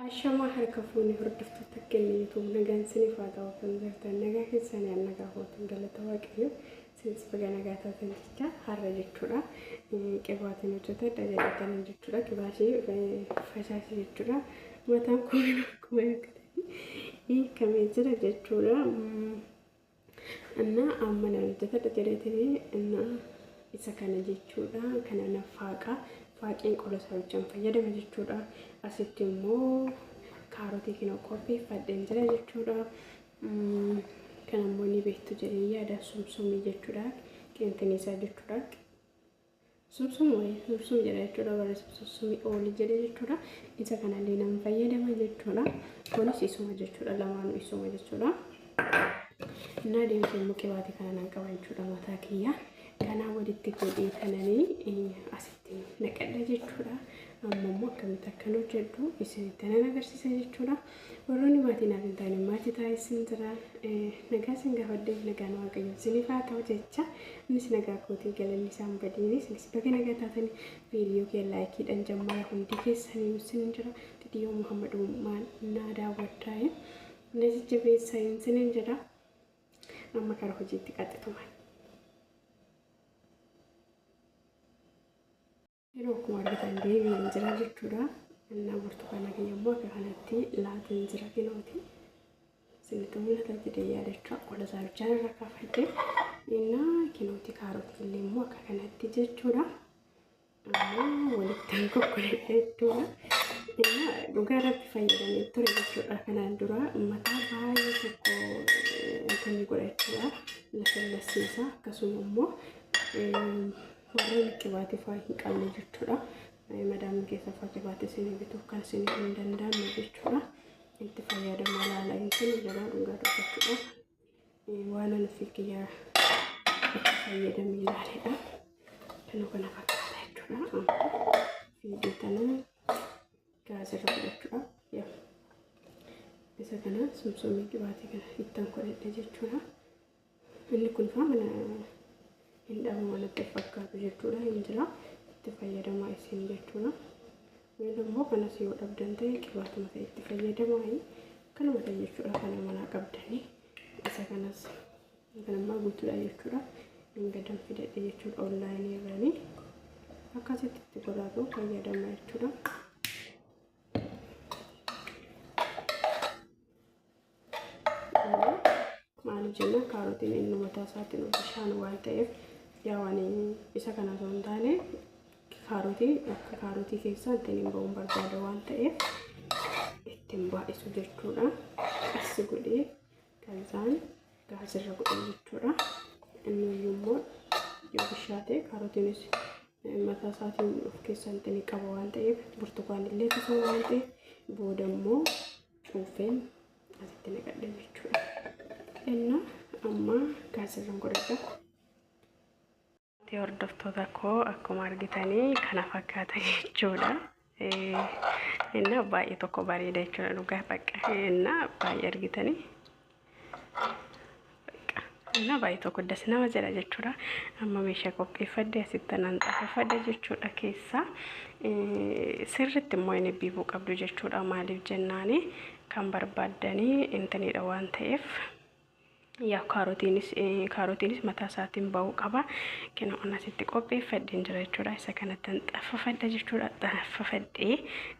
Ashamaa harka fuunee hordoftoota keenya YouTube nagaan siniif haa ta'u kan jirtan nagaa keessan yaa nagaa hootan galata waaqayyo sinis baga nagaa taatan jecha har'a jechuudha qibaatiin hojjetadha jedhatan jechuudha qibaashii fashaashii jechuudha mataan koo akkuma yakkate hiikamee jira jechuudha. Annaa amma na hojjetadha jedheetini annaa isa kana jechuudha. Kana na faaqa. Faaqeen qola saawichaan fayyadama jechuudha. Asitti immoo kaarotii kina qopheeffadheen jira jechuudha. Kan ammoo ni beektu jedhee yaada sumsumii jechuudha. Qeenxinii isaa jechuudha. Subsum wayii sursum jedha jechuudha warri subsusumi ooli jedhe jechuudha isa kanallee nan fayyadama jechuudha kunis isuma jechuudha lamaanu isuma jechuudha naa deemte immoo qibaate kana nan qaba jechuudha mataa kiyya kanaa walitti godhee kananii asitti naqadha jechuudha amma immoo akkamitti akkan hojjedhu isinitti nan agarsiisa jechuudha Warroonni maatii naaf hin taane maatii ta'aa isin jira. Nagaa isin gaafadheef nagaan waaqayyoo isiniif haa ta'u jecha innis nagaa kootii galanni isaan badiini isinis baga nagaa taatanii viidiyoo kee laayikiidhaan jammaara hundi keessanii isin jira viidiyoo Muhammad Uumaan naa daawwadhaa na jajjabeessaa isiniin jira amma kara hojiitti qaxxitumaan. Yeroo akkuma argitan deebi'een jira jechuudha. Annaa burtukaana kiyya immoo akka kanatti laateen jira kinooti. Sinitti mul'ata jedhee yaadachaa qola isaa bichaan irra kaafadhe. Innaa kinooti kaarotii illee immoo akka kanatti jechuudha. Amma walittaan kokkoleedha jechuudha. Innaa dhugaa rabbi fayyadamee ture jechuudha. Kanaan dura mataa baay'ee tokko kan godhachuudha. Lafa lassiisaa akkasuma immoo Warreen qibaatii faa hin qabne jechuudha. Madaamni keessa faa qibaatii isinii bituuf kan isin hin danda'amne jechuudha. Itti fayyadamaa laala hin kennu jedhaa dhugaa dubbachuudha. Waan ani fi kiyyaa itti fayyadamee ilaaledha. Kanuu kana fakkaata jechuudha. Fiidee tanaa gaazirra godhachuudha. Yaa. Isa kana sumsumii qibaatii kana ittan godhadhe jechuudha. Inni kun faa mana hin dhabu wanatti fakkaatu jechuudha hin jira itti fayyadamaa isin jechuudha. Wayil immoo kanas yoo dhabdan ta'e qibaatuma ta'e itti fayyadamaa kanuma ta'e jechuudha kana manaa qabdanii isa kanas kan ammaa guutuudha jechuudha hin gadan fidadhe jechuudha onlaayinii irranii akkasitti itti godhaatu fayyadamaa jechuudha. maal jenna kaarotiin inni mataa isaatiin bishaan waan ta'eef yaa waan isa kana osoo hin taane kaarotii akka kaarotii keessaa ittiin hin ba'uun barbaada waan ta'eef ittiin baay'isu jechuudha. Assi godhee kan isaan gaasirra godhan jechuudha. Inni immoo yoo bishaate kaarotiinis mataa isaatiin of keessaa ittiin qaba waan ta'eef burtukaanillee akkasuma waan ta'eef booda immoo cuuffeen asitti naqadhe jechuudha. Enna amma gaasirran godhadha. Hordoftoota koo akkuma argitanii kana fakkaata jechuudha. Enna baay'ee tokko bareeda jechuudha dhugaa bakka enna baay'ee argitanii. እና baay'ee tokko das nama jedha jechuudha. Amma meeshaa qopheeffadde asitti nan xaafeffadha jechuudha keessaa. Sirriitti immoo inni biibuu qabdu jechuudha. Maaliif jennaani kan barbaaddanii intanidha waan ta'eef. Yaa kaarotiinis kaarotiinis mataa isaatiin ba'uu qaba. Kina on asitti qopheeffadheen jira jechuudha. Isa kanatti hin xaffafadha jechuudha. Xaffafadhee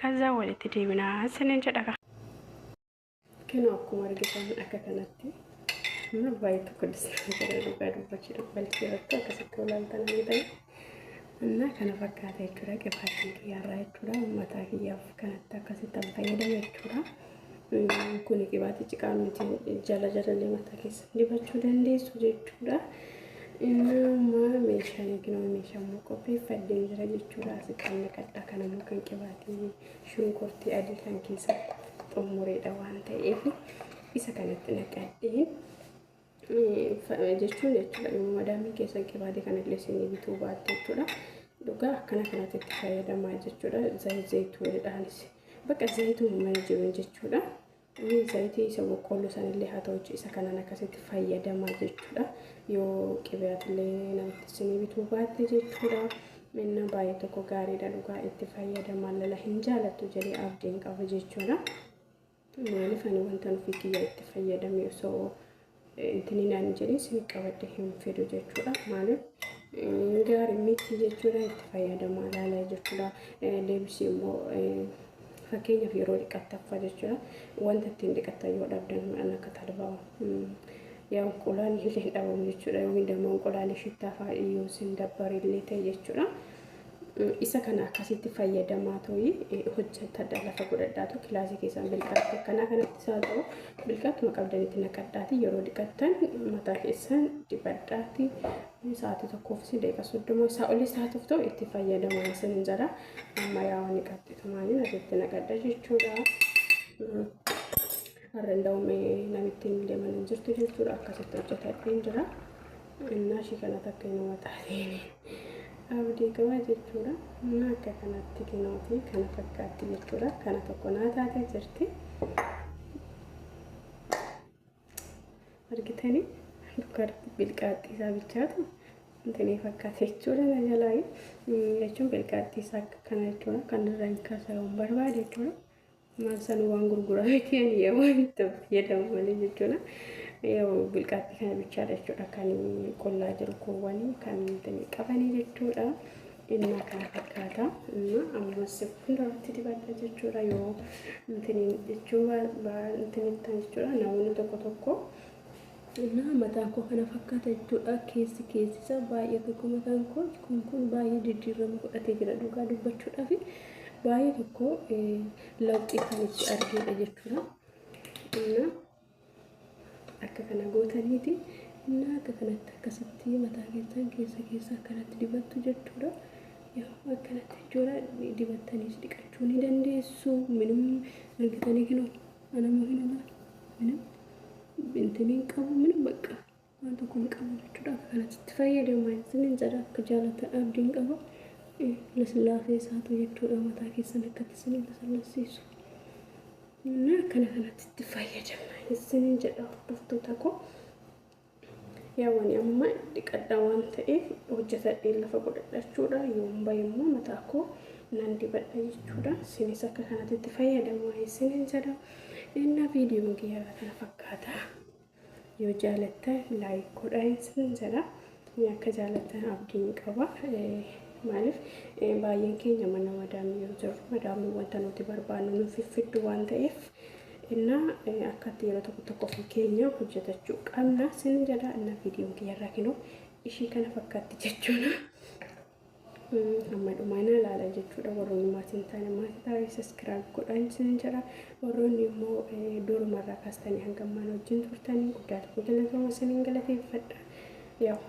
kaza walitti deebinaa sinin jedha. Kenoo akkuma argitan akka kanatti mana baay'ee tokko disnaa jira dhugaa dubbachuu dubbalchuu irratti akkasitti olaaltan argitan. Innaa kana fakkaata jechuudha qibaatiin kiyyaarraa jechuudha ummataa kiyyaaf kanatti akkasitti an fayyadame jechuudha. Kuni qibaatii ciqaa miti jala jalallee mataa keessa dibachuu dandeessu jechuudha. Innaa meeshaan yookiin meeshaan immoo qopheeffadhee jira jechuudha. Asitti kan naqadha kan immoo kan qibaatii shunkurtii adii kan keessatti xummureedha waan ta'eef isa kanatti naqadheen jechuun jechuudha yoo madaamii keessan qibaatee kana illee isinii bituu baatte jechuudha dhugaa akkana kanatti itti fayyadamaa jechuudha zayituunidhaanis bakka zayituun mana jiruun jechuudha Zayitii isa boqqoolloo sanillee haa ta'u isa kanaan akkasitti fayyadamaa jechuudha. Yoo qibeetillee namatti isinii bituu baatte jechuudha. Minna baay'ee tokko gaariidha dhugaa itti fayyadamaa lala hin jaalattu jedhee abdiin qaba jechuudha. Maaliif ani wanta nufi kiyya itti fayyadame osoo intini naan jedhin sin qabadhe hin fidu jechuudha maaliif gaari miti jechuudha itti fayyadamaa laalaa jechuudha deebisi immoo fakkeenyaaf yeroo dhiqattaffa jechuudha wanta ittiin dhiqattan yoo dhabdan midhaan akka talbaa yaa unqulaan illee dhabamu jechuudha yookiin damma unqulaalee shittaafaa yoo sin dabbarillee ta'e jechuudha. Isa kana akkasitti fayyadamaa toyi hojjetadha lafa godhadhaatu kilaasii keessan bilqaatti akkanaa kanatti isaa ta'u bilqattuma qabdanitti naqadhaati yeroo dhiqattan mataa keessan dibadhaati sa'aatii tokkoof si deeqa soddoma isaa olii sa'aatiif ta'u itti fayyadamaa isin hin jala amma yaa'u ni qabxitumaaniin asitti naqadha jechuudha. Har'a hin da'ume namittiin deeman hin jirtu jechuudha akkasitti hojjetadheen jira. Ennaa ishii kana takka inuma taateeni. Abdii qaba jechuudha. Naa akka kanatti kinooti kana fakkaatti jechuudha. Kana tokko naa taatee jirti. Argitanii dubartii bilqaaxxii isaa bichaatu intinii fakkaate jechuudha na jalaa jechuun bilqaaxxii isaa akka kana jechuudha. Kan irraa hin kaasa'uun barbaade jechuudha. Maal sana waan gurguraa miti ani yaa waan itti fayyadamu malee jechuudha. Yoo bilqaaxxii kana bichaadha jechuudha kan qullaa jiru kuuwwanii kan ittiin qabanii jechuudha. Inni kana fakkaata. Inni ammas hundarratti dibadha jechuudha yoo ittiin jechuu ittiin ittan jechuudha namoonni tokko tokko. Xinnaa mataa koo kana fakkaata jechuudha keessi keessi isaa baay'ee tokko mataan koo kun kun baay'ee jijjiirrama godhatee jira dhugaa dubbachuudhaaf baay'ee tokko lawxii kan itti argeedha jechuudha. Xinnaa akka kana gootaniiti innaa akka kanatti akkasitti mataa keessan keessa keessa akkanatti dibattu jechuudha. Yeroo akkanatti jechuudha dibattaniis dhiqachuu ni dandeessu minum argitanii kinoo. Anammoo hin olaale. Minim bintin hin qabu minim baqqa waan tokko hin qabu jechuudha akka kanatti itti fayyadama isinin jedha akka jaalatan abdiin qaba laslaasee isaatu jechuudha mataa keessan akkatti isinin lasallassiisu na akkana kanatti itti fayyadama isinin jedha hordoftoota koo Yaw ani amma dhiqadha waan ta'eef hojjetadheen lafa godhadha jechuudha. Yoon bahe immoo mataa koo nan dibadha jechuudha. Isinis akka kanatti itti fayyadamaa isinin jedha. Innaa viidiyoon kiyya irra kana fakkaata. Yoo jaalattan laayik godhaa isinin jedha. Inni akka jaalattan abdiin qaba. Maaliif baay'een keenya mana madaamii yoo jirru madaamii wanta nuti barbaannu nuuf fiddu waan ta'eef Inna akkatti yeroo tokko tokko ofii keenya hojjatachuu qabna sinni jedha inna viidiyoon kiyya irraa kinoo ishii kana fakkaatti jechuudha. Amma dhumaa naa laala jechuudha warroonni maatii hin taane maatii taa'ee saskiraayib godhaan sin jedha warroonni immoo duruma irraa kaastanii hanga ammaan wajjin turtanii guddaa tokko galatooma siniin galateeffadha. Yaw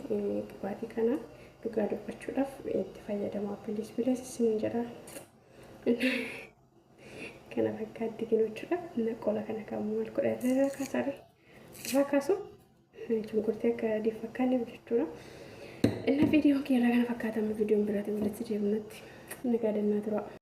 dhugaatii kana dhugaa dubbachuudhaaf itti fayyadamaa bilis bilis sin jedha. kana fakkaatti kinu jechuudha. Inna qola kana kan maal godha irra irra kaasare irra kaasu shunkurtii akka adii fakkaanne jechuudha. Inna viidiyoon keerraa kana fakkaatamu viidiyoon biraatiin walitti deebinutti nagaa dannaa tura.